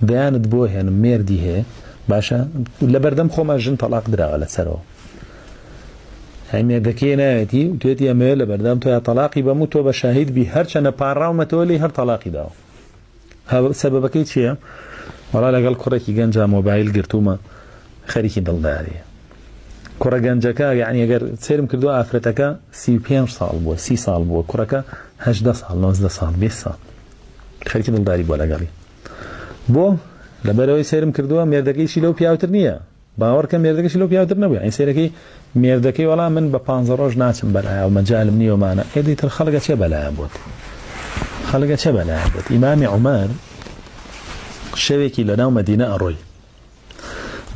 دەیانت بۆ هێنم مێردی هەیە باشە لەبەردەم خۆما ژن تەلاق دراوە لەسەرەوە هەی مێردەکەی ناوێتی و توێتی ئەمەوێ لە بەردەم تۆ یا تەلاقی بەم و تۆ بە شاهید بی هەرچەنە پاڕاومەتەوە لی هەر تەلاقی داوە سەبەکەی چییە؟ وەڵا لەگەڵ کوڕێکی گەنجا مۆبایل گرتومە خەریکی دڵداریە کوڕە گەنجەکە یعنی ئەگەر سرم کردو ئافرەتەکە سی پێ ساڵ بووە سی ساڵ بووە کوڕەکە هەدە ساڵ نۆزدە ساڵ بێ ساڵ خەریکی دڵداری بووە لەگەڵی بۆ لەبەرەوەی سەیرم کردووە مێردەکەیشی لەو پیاوتر نییە باوەڕکە مێردەکەشی لەو پیاوتر نەبوو ئەین سەیرەکەی مێردەکەی وەڵام من بە پانزە ڕۆژ ناچم بەلایە و مەجالم نیوەمانە ئێدی تر خەڵگە چێ بەلایە بووت خەڵگە چێ بەلایە بووت ئیمامی عمر شەوێکی لەناو مەدینە ئەڕۆی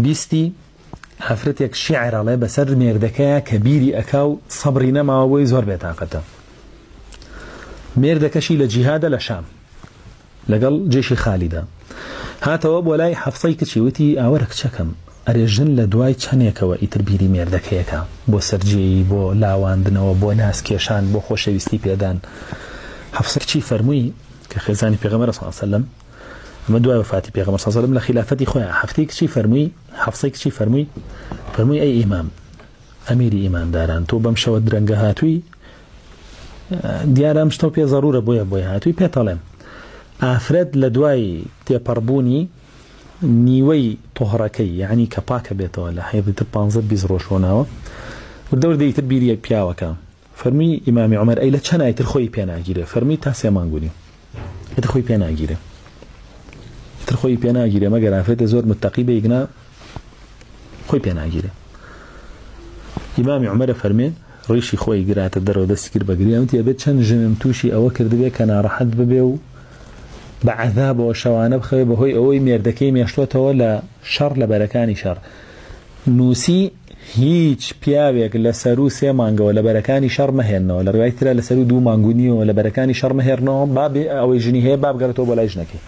بیستی ئافرەتێک شیعر ئەڵێ بەسەر مێردەکەیا کە بیری ئەکا و سەبری نەماوە بۆی زۆر بێتاقەتە مێردەکەشی لە جیهادە لە شام لەگەڵ جێشی خالیدا هاتەوە بۆ لای حەفسەی کچی وتی ئاوەرە کچەکەم ئەرێ ژن لە دوای چەندێکەوە ئیتر بیری مێردەکەیەکە بۆ سەررجەیی بۆ لاواندنەوە بۆ ناس کێشان بۆ خۆشەویستی پێدان حەفسە کچی فەرمووی کە خێزانی پێغەمەرە ساسەلم ئەمە دوای وفاتی پێغەمە ساسەلم لە خلافەتی خۆیان حەفتی کچی فەرمووی حەفسەی کچی فەرمووی، فەرمووی ئەی ئیمام، ئەمیری ئیمانداران، تۆ بەم شەوە درەنگە هاتووی، دیارە ئەم شتەو پێ زەرورە بۆیە بۆی هاتووی، پێتەڵێم ئافرەت لە دوای تێپەڕبوونی نیوەی تۆهڕەکەی یعنی کە پاکە بێتەوە لە حەیضی تر پانزە بیست ڕۆژ ڕۆناوە وردە وردە ئیتر بیری پیاوەکە فەرمووی ئیمامی عومەر، ئەی لە چەند ئایتر خۆی پێ ناگیرێ؟ فەرمووی تا سێ مانگ و نیو ئیتر خۆی پێ ناگیرێ. ئیتر خۆی پێ ناگیرێ مەگەر ئافرەتێ زۆر متەقی بێ ئیگنا خۆی پێ ناگیرێ. ئیمامی عومەرە فەرمێ ڕیشی خۆی گراتە دەرەوە دەستی کرد بە گریان وتی ئەبێت چەند ژنم تووشی ئەوە کردبێ کە ناڕەحەت ببێ و بە عەذابەوە شەوانە بخەوێ بەهۆی ئەوەی مێردەکەی مێشتوەتەوە لە شەڕ لە بەرەکانی شەڕ نووسی هیچ پیاوێک لە سەروو سێ مانگەوە لە بەرەکانی شەڕ مەهێنەوە، لە ڕوایەکی ترا لە سەروو دوو مانگ و نیوەوە لە بەرەکانی شەڕ مەهێڕنەوە، با بێ ئەوەی ژنی هەیە با بگەڕێتەوە بۆ لای ژنەکەی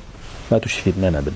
با تووشی فیتنە نەبن.